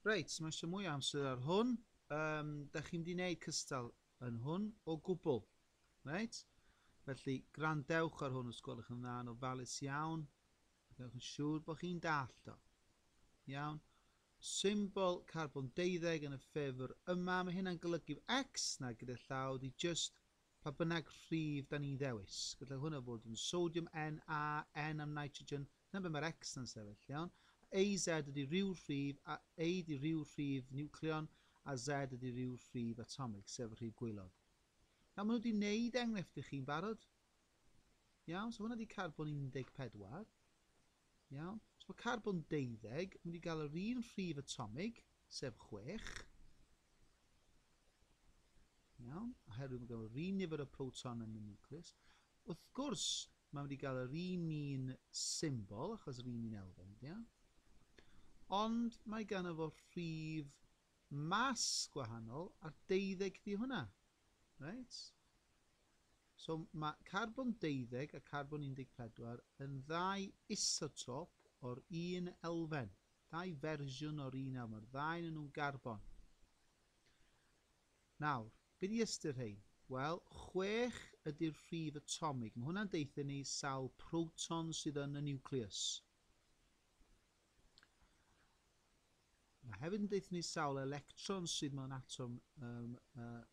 Reit, mae eisiau mwy o amser ar hwn. Um, da chi'n di wneud cystal yn hwn o gwbl. Reit? Felly, grandewch ar hwn os gwelwch yn dda yn ofalus iawn. Gwnewch yn siŵr bod chi'n dallt o. Iawn. Symbol carbon 12 yn y ffefr yma. Mae hynna'n golygu X na gyda llaw di just pa bynnag rhif da ni'n ddewis. Gallai hwnna fod yn sodium Na, N am nitrogen, Na be mae'r X na'n sefyll, iawn? AZ ydy rhyw rhif, a A ydy rhyw rhif niwcleon, a Z ydy rhyw rhif atomig, sef y rhif gwaelod. Nawr, maen nhw wedi wneud enghraifft i chi'n barod. Iawn, so hwnna ydy carbon 14. Iawn, so mae carbon 12 yn mynd i gael yr un rhif atomig, sef 6. Iawn, oherwydd mae gen yr un nifer o proton yn y nucleus. Wrth gwrs, mae wedi cael yr un un symbol, achos yr un un elfen ydy o. Ond mae gan efo rhif mas gwahanol a'r deuddeg di hwnna. Right? So mae carbon deuddeg a carbon 14 yn ddau isotop o'r un elfen. Ddau fersiwn o'r un elfen. Mae'r ddau yn nhw'n garbon. Nawr, be di ystyr rhein? Wel, chwech ydi'r rhif atomig. Mae hwnna'n deutha ni sawl proton sydd yn y niwclews. Mae hefyd yn deutha ni sawl electron sydd mewn atom um, uh,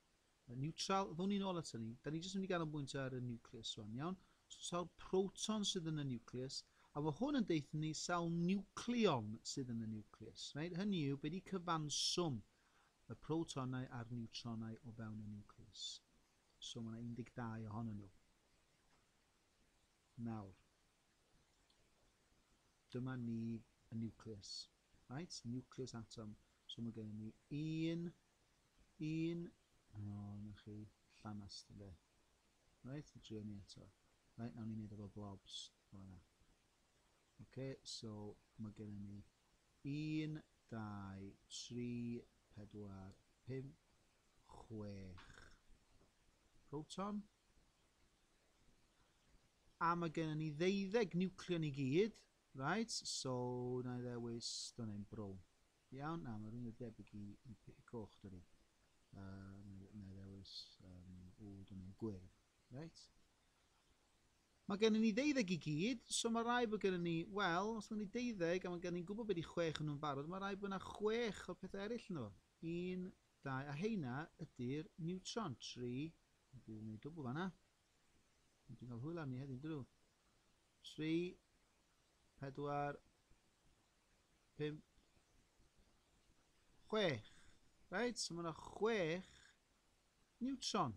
neutral. Ddwn ni'n ôl at hynny. Da ni jyst yn mynd i ganolbwyntio ar y niwclews o'n iawn. So, sawl proton sydd yn y niwclews. A mae hwn yn deutha ni sawl niwcleon sydd yn y niwclews. Right? Hynny yw, be di cyfanswm y protonau a'r niwtronau o fewn y niwclews. So mae yna 12 ohonyn nhw. Nawr, dyma ni y niwclews. Right? Niwclews atom. So mae gennym ni un, un, o, oh, na chi, llanast, ynddo. Right? Drio ni eto. Right, nawn ni'n neud efo blobs. O, na. OK, so mae gennym ni Un, dau, tri, pedwar, pump, chwech proton. A mae gennym ni ddeuddeg niwcleon i gyd. Right, so na i ddewis, dyna ni'n brown. Iawn, na, mae rhywun yn debyg i, i, i coch, dyna ni. Uh, na i ddewis, um, o, dyna ni'n gwyrdd. Right. Mae gennym ni ddeuddeg i gyd, so mae rhaid bod gennym ni, wel, os mae gennym ni deuddeg a mae gennym ni'n gwybod be 'di chwech o nhw'n barod, mae rhaid bod yna chwech o'r pethau eraill ynddo fo. Un, dau, a heina ydi'r niwtron. Tri, dwi 'di gwneud dwbl fan'na. Dwi'n cael hwyl arni heddiw, dydw. Tri, pedwar, pump, chwech. Reit, so mae yna chwech niwtron.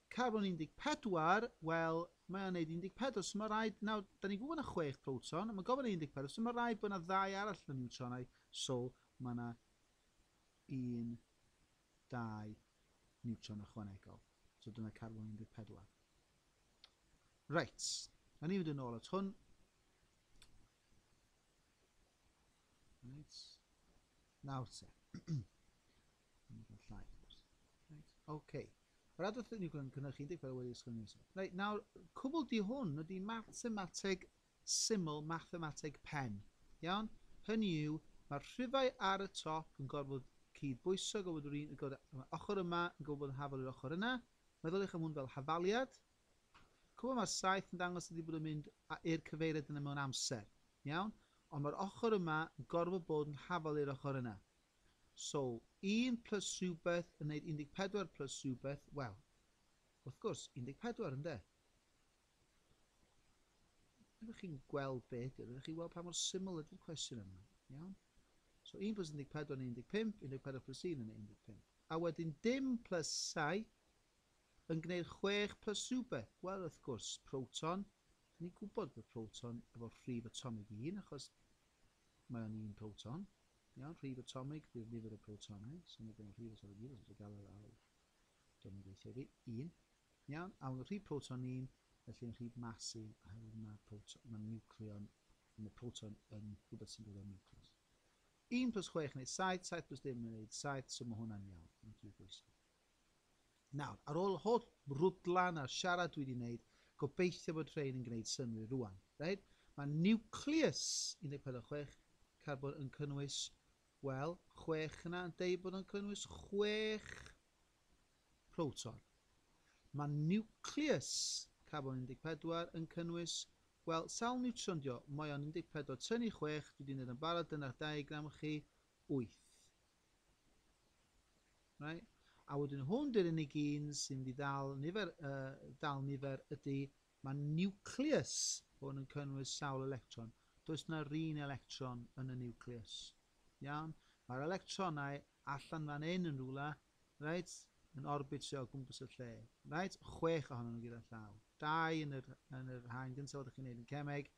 Carbon 14, wel, mae o'n neud 14, so mae rhaid, nawr, da ni'n gwybod bod yna chwech proton, ond mae gofyn yn 14, so mae rhaid bod yna ddau arall yn y niwtronau, so mae yna un, dau niwtron ychwanegol. So dyna carbon 14. Reit, a ni'n mynd yn ôl at hwn. Reit. Nawr te. Llai. Reit. OK. Yr adrodd ni yn cynnwys 10 fel wedi ysgrifennu eto. Reit, nawr, cwbl di hwn ydy mathemateg syml, mathemateg pen. Iawn? Hynny yw, mae'r rhifau ar y top yn gorfod cyd-bwyso, gorfod yr un, gorfod ochr yma yn gorfod bod yn hafal i'r ochr yna. Meddyliwch am hwn fel hafaliad, Cwbl mae'r saith yn dangos ydi bod yn mynd a i'r cyfeiriad yna mewn amser. Iawn? Ond mae'r ochr yma yn gorfod bod yn hafal i'r ochr yna. So, un plus rhywbeth yn neud 14 plus rhywbeth, wel, wrth gwrs, 14 ynde? Ydych chi'n gweld be ydy? Ydych chi'n gweld pa mor syml ydy'r cwestiwn yma? Iawn? So 1 plus 14 yn 15, 14 plus 1 yn 15. A wedyn dim plus 7, yn gneud chwech plus rhywbeth, wel, wrth gwrs, proton, dyn ni'n gwybod bod proton efo'r rhif atomig un, achos mae o'n un proton, iawn, rhif atomig bydd nifer y protonau, so mae gen i'r rhif atomig un, os ydych gael ar awr, dyna ni'n gweithio fi, un, iawn, a mae'n rhif proton un, felly yn rhif mas un, oherwydd mae, proton, mae niwcleon, mae proton yn rhywbeth sy'n dod o'r niwcleus. 1 plus 6 yn gwneud 7, 7 plus dim yn gwneud 7, so mae hwnna'n iawn, yn rhif bwysig. Nawr, ar ôl holl rwdlan a siarad dwi wedi wneud, gobeithio bod rhein yn gwneud synnwyr rwan. Reit? Mae niwclews 14.6 carbon yn cynnwys, wel, 6 yna yn deud bod o'n cynnwys 6 proton. Mae niwclews carbon 14 yn cynnwys, wel, sawl niwtron dio? Mae o'n 14 tynnu 6, dwi wedi wneud yn barod, dyna'r diagram chi, 8. Right? A wedyn hwn di'r unig un sy'n mynd i ddal nifer, uh, dal nifer ydy mae nucleus hwn yn cynnwys sawl electron. Does na un electron yn y nucleus. Iawn? Mae'r electronau allan fan hyn yn rhywle, right, yn orbitio o gwmpas y lle. Right? Chwech ohonyn nhw gyda llaw. Dau yn yr, yn yr haen gyntaf oeddech chi'n neud yn cemeg,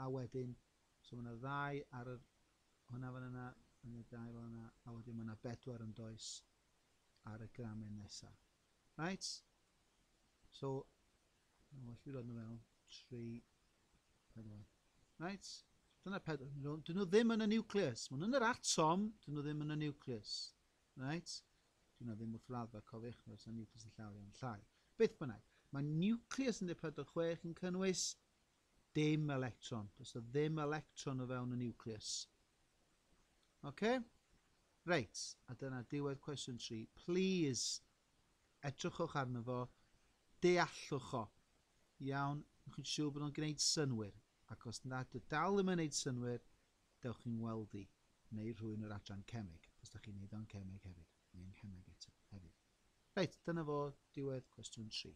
a wedyn, so mae yna ddau ar yr Hwnna fan yna, yn y dail fan yna, a wedyn mae yna bedwar yn does ar y gramen nesa. Right? So, mae'n well fi rod nhw fewn, tri, pedwar. Right? Dyna pedwar. Dyn nhw ddim yn y nucleus. Mae nhw'n yr atom, dyn nhw ddim yn y nucleus. Right? Dyn nhw ddim wrth raddfa, cofiwch, mae'r sy'n nucleus yn llawer iawn llai. Beth bynnag, mae nucleus yn 146 yn cynnwys Dim electron. Does na ddim electron o fewn y nucleus. Oce? Reit, a dyna diwedd cwestiwn 3. Please, edrychwch arno fo, deallwch o. Iawn, ywch chi'n siŵr bod o'n gwneud synwyr? Ac os nad y dal ddim yn gwneud synwyr, dewch chi'n weld i, neu rhywun o'r adran cemeg, os da chi'n neud o'n cemeg hefyd, neu yng nghemeg eto hefyd. Reit, dyna fo diwedd cwestiwn 3.